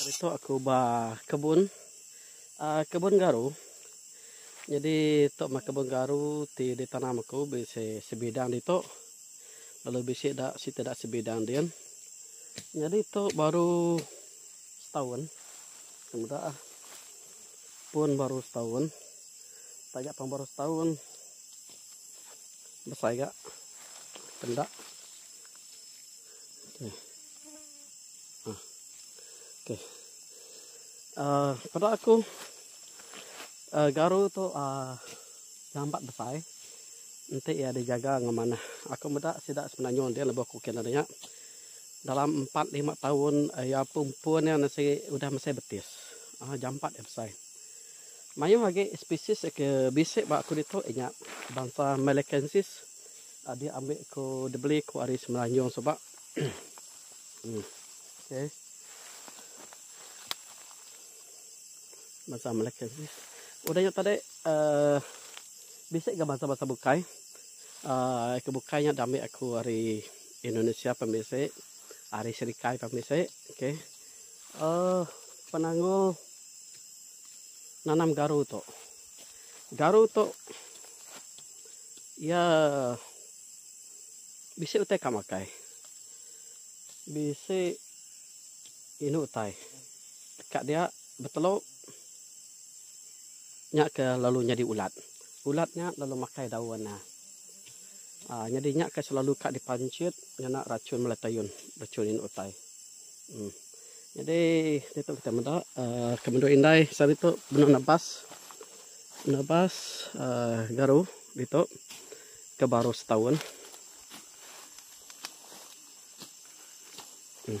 Hari tu aku ba kebun aaa kebun garu nyadi tu meh kebun garu ti ditanam aku bisi sebidang ditu lalu bisi da siti da sebidang din nyadi tu baru setaun meda ah. Pun baru setahun. Taja pang baru setahun. Besai ga. Pendak. Okey. Ha. Okey. Uh, pada aku uh, garu tu uh, lambat besai. Nanti ia dijaga ngamanah. Aku meda sida sebenarnya dia lebih kukin ada nya. Dalam empat lima taun iya pun iya nasi udah mesai betis. Aaa jampat iya besai. Mayuh agi spesies ke bisi ba aku ditu inya bansa Melikensis adi ambi ku dibeli ku ari Semenanjung suba. Uhh okey. Bansa Melikensis. Udah nya tadi aaa bisi ga bansa-bansa bukai aaa ke bukai nya diambi aku ari Indonesia pun bisi. Ari Serikai pun bisi. Okey. Uh, penanggul nanam garu tu. Garu tu ia bisi utai ka makai. Bisi inu utai. Ka dia Betelok nya ke lalu nyadi ulat. Ulat nya lalu makai daun nya. Aa nyadi nya ke selalu ka dipanchit ngena rachun bala tayun, rachun indu utai. Em. Nyadi ditu kitai meda aa ke menua indai selalu ditu benung nebas. Nebas aa garu ditu ke baru setaun. Em.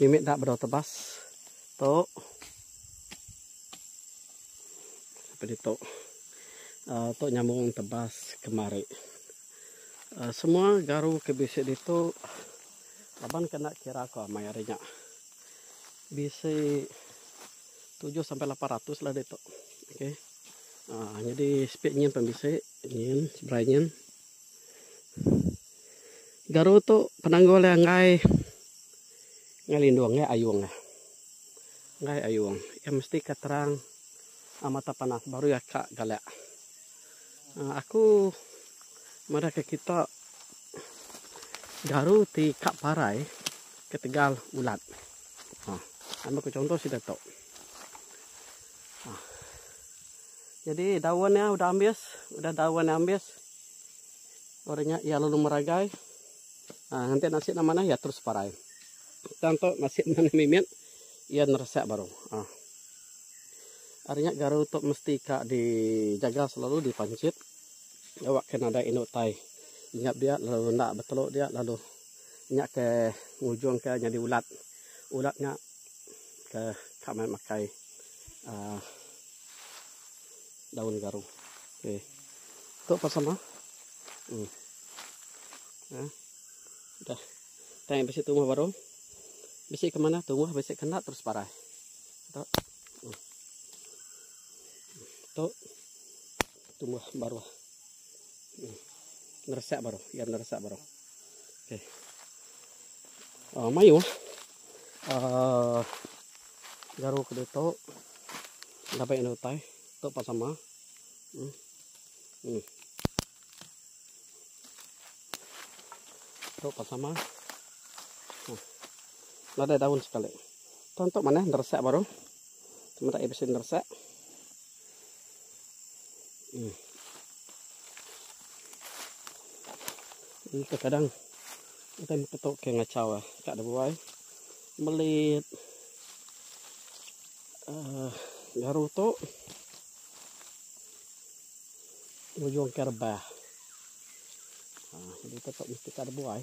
Mimit dak bedau tebas. Tok. Apa di tok? Uh, tok nyambung tebas kemari. Uh, semua garu ke bisi di tu laban kena kira ko amai hari nya. Bisi 7 sampai 800 lah di tok. Okey. Uh, jadi speed nyin pun bisi. Nyin, sebrai nyin. Garu tu penanggul iya enggai enggai lindung enggai ayung iya. Enggai ayung iya mesti ka terang a mata panas baru iya ka galak. Aaa aku madahka kita garu ti ka parai ketegal ulat. Aaa nambah ku chunto sida tu. Aaa. Jadi daun nya udah ambis, udah daun nya ambis baru nya iya lalu meragai. Ha nganti nasi nya manah iya terus parai. Tang tu nasi manah mimit iya neresak baru. Ha. Ari nya garu tu mesti ka dijaga selalu dipanchit awak ke nadai indu tai inyap dia lalu enda betelu dia lalu nya ke ngujung ke nyadi ulat. Ulat nya ke ka meh makai aaa daun garu okey tu pun sama em eh udah tang bisi tumbuh baru bisi ke mana tumbuh bisi ke enda terus parai tu em tu tumbuh baru em neresak baru iya neresak baru. Uh, mayuh uh, garu ke tu dapat yang utai tu pas sama hmm. Hmm. tu pas sama hmm. ada daun sekali tu untuk mana nersak baru cuma tak episode nersak Ini kadang kadang ketok ke ngacau ah ka de buai melit uh, garu tu ujung ke rebah. Ha, uh, jadi ketok mesti ka de buai.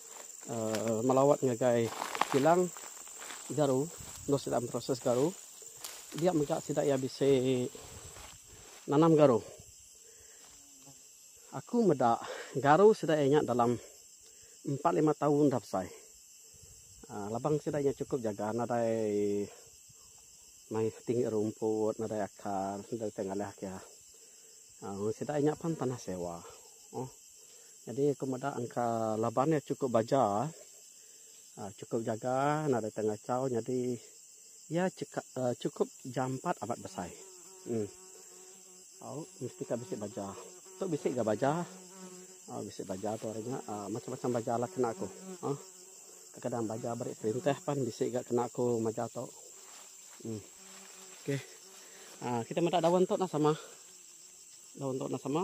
Melawat ngagai kilang garu enggau sida memproses garu dia mega sida iya bisi nanam garu. Aku meda garu sida iya nya dalam empat lima taun dah besai. Labang sida iya chukup jaga nadai mai tinggi rumput nadai akar nadai utai ngalih agi. Sida iya nya pan tanah sewa. Nyadi aku meda engka laban iya chukup baja uhh chukup jaga nadai tau ngachau nyadi iya cheka uhh chukup jampat amat besai uhh au mesti ka bisi baja tu bisi ga baja au bisi baja tu ari nya uhh macam macam baja lah kena aku uhh kadang baja beri perintah pan bisi ga kena aku maja tu uhh okay uhh kita meda daun tu nah sama daun tu nah sama.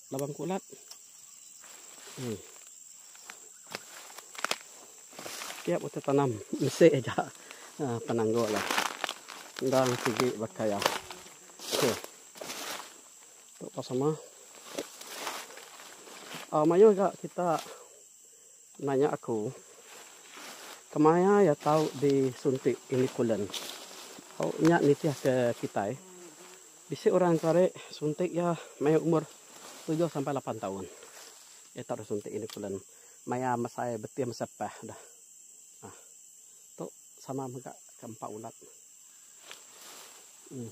Labang kulat. Hmm. Tiap utai tanam mesti aja uh, ah, penanggul lah. Dan tinggi bakaya. Okey. Tok pasama. Ah uh, mayuh ga kita Nanya aku, kemaya iya tau disuntik Iniculen? Tau nya nitih ke kitai, bisi orang enti ari suntik iya maya umur tujuh sampai lapan taun. Iya tau disuntik Iniculen maya mesai betih masa pah dah. Nah, tu sama mega ke empa ulat. Em.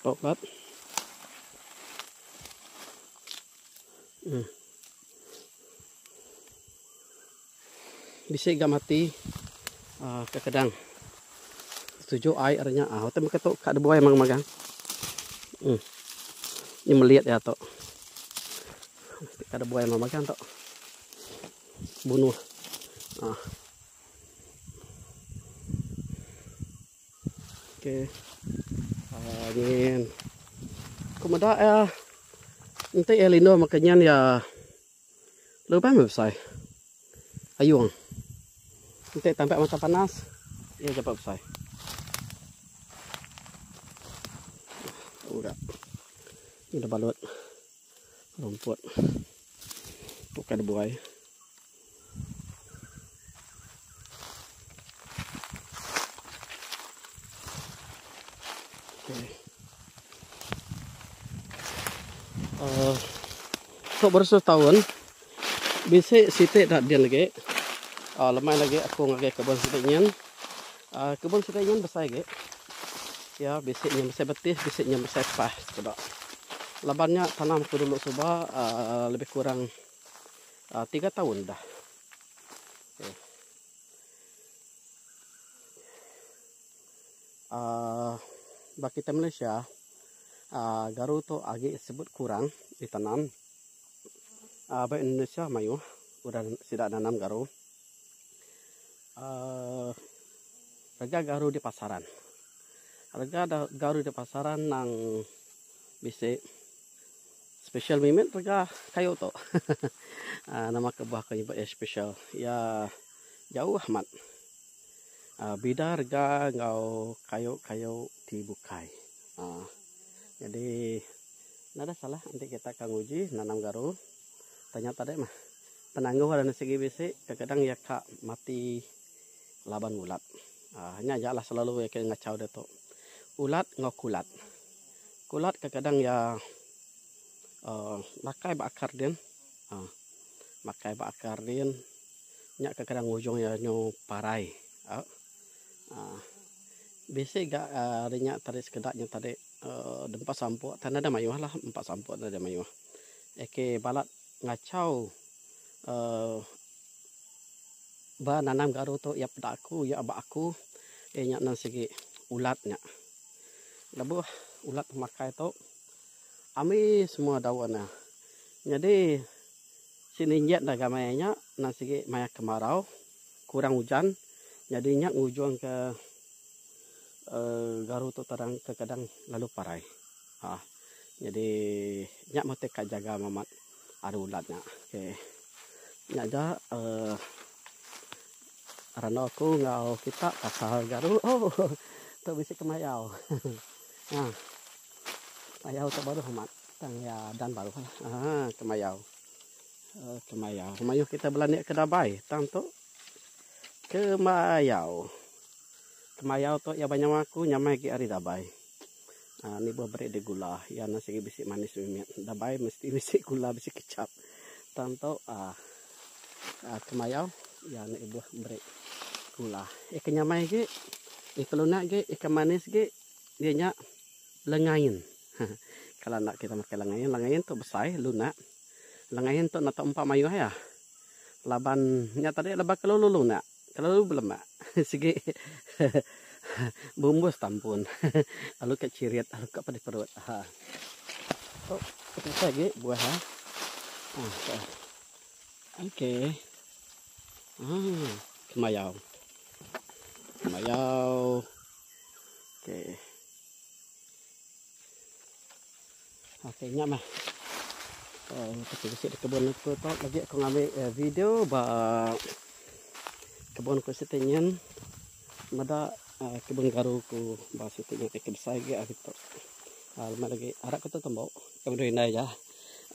Top up. Hmm. Bisi gam hati uh, ah, kadang setuju ai arnya ah hotel maka tu ka debuai mang magang. Hmm. Ni melihat ya tu. Mesti ka debuai mang magang tu. Bunuh. Ah. Okey. Ah, nyen. Ku meda ya. Enti ya lindu maka nyen ya. Lubang besai. Ayung. Enti tampak mata panas, ya dapat besai. Udah. Ini balut rumput. Tukar buai. Tok beratus taun bisi siti da deh agi aaa lemai lagi aku ngagai kebun siti nyin aaa kebun siti nyin besai agi iya bisi nyin besai betih bisi nyin besai pah ku da laban nya tanam ku dulu suba aaa lebih kurang Uh, tiga tahun dah. Eh. Uh, ba kita Malaysia, uh, garu tu agi sebut kurang ditanam. Uh, ba Indonesia mayu udah sida nanam garu. Uh, rega garu di pasaran. Rega garu di pasaran nang bisi Special mih mit rega kayu tu. Aaa nama ke bah ko nyebut iya special. Iya jauh amat. Aaa bida rega enggau kayu-kayu ti bukai. Aaa nyadi nadeh salah enti kita ka nguji nanam garu. Tanya tadi mah penanggul anu sigi bisi kadang-kadang iya ka mati. Laban ngulat. Aaa nya aja lah selalu iya ke ngachau ditu. Ulat enggau kulat. Kulat kekadang iya aaa makai ba akar din aaa makai ba akar din nya kekadang ujung iya nyu parai aaa bisi ga aaa ari nya tadi sekeda nya tadi aaa dempa sampuk tan ada mayuh lah empa sampuk tan ada mayuh. Iya ke balat ngachau aaa. Ba nanam garu tu iya peda aku iya aba aku iya nya nan sigi ulat nya. Lebuh ulat tu makai tu ambi semua daun nya. Nyadi sini nyin dah gamai nya nan sigi maya kemarau kurang ujan nyadi nya ngujungka uhh garu tu terang ke kadang lalu parai. Ha jadi nya meh ti ka jaga amat ari ulat nya. Okey. Nya aja uh, randau aku enggau kita pasal garu. Oh. Tu bisi kemayau. ha. Kemayau tu baru amat. Tang ya dan baru. Ha, kemayau. Uh, kemayau. Mayuh kita belani ke dabai. Tang tu kemayau. Kemayau tu ya banyawa aku nyamai gi ari dabai. Anu ibuh beri deh gula. Iya anu sigi bisi manis mimit. Enda baik mesti bisi gula bisi kecap. Tang tu uhh uhh temayau iya anu ibuh beri gula. Ika nyamai agi, ika lunak agi, ika manis agi iya nya lengain. Heh kala enda kita makai lengain, lengain tu besai lunak. Lengain tu enda tau empa mayuh iya. Laban nya tadi laban kelalu lunak. Kelalu belemak sigi bumbus tampun lalu ka chirit lalu ka pedih perut ha. Tu petisai agi buah ha. Ha. Okey. Ha. Kemayau. Kemayau. Okey. Okey nya meh. Oh, kita bisi di kebun aku tu lagi aku ngambil uh, video ba kebun aku situ nyen. Meda uh, kebun garu aku ba situ nyen ke besar gi aku tu. Uh, lemak lagi arak aku tu tembok. Kami doi nai ja.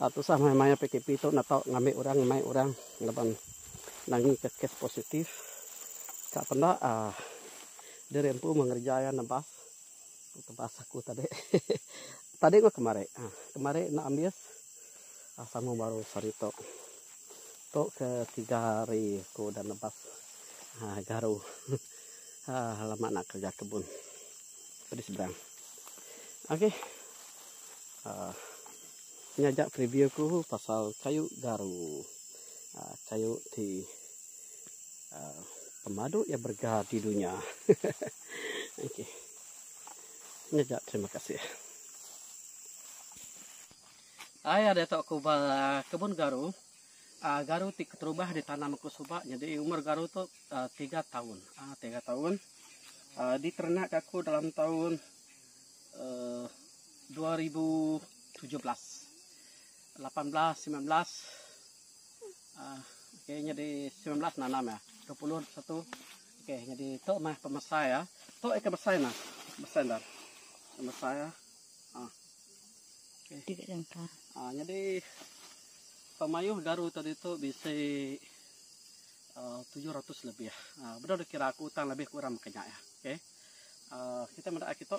Uh, tu sah mai mai PKP tu nak tau ngambil orang mai orang laban nangi ke kes positif. Kak penda uh, ah, dia rempu mengerja ya nebas. Tebas aku tadi. Tadi enggau kemari. Ha, kemari enda ambis. Ha, sambung baru sehari tu. Tu ke tiga hari aku dah nebas ha, garu. Ha, lama nak kerja kebun. Tadi seberang. Okey. Ha, ini aja preview aku pasal kayu garu. Ha, kayu ti ha, pemadu yang berga di dunia. Okey. Ngejap terima kasih. Ai ada tok ku ba kebun garu. Uh, garu ti keterubah ditanam aku suba jadi umur garu tu uh, tiga tahun. Uh, tiga tahun. Uh, diternak aku dalam tahun uh, 2017. 18, 19. Uh, okay, jadi 19 nanam ya. 21, Okey nyadi tu mah pemesai ah. Tu ikan besai nah. Besai dah. Pemesai ah. Ah. Okey. Tiga jangka. Ah nyadi pemayuh garu tadi tu bisi uh, 700 lebih. Ah uh, benar dikira aku utang lebih kurang makanya ya. Okey. Uh, kita meda kita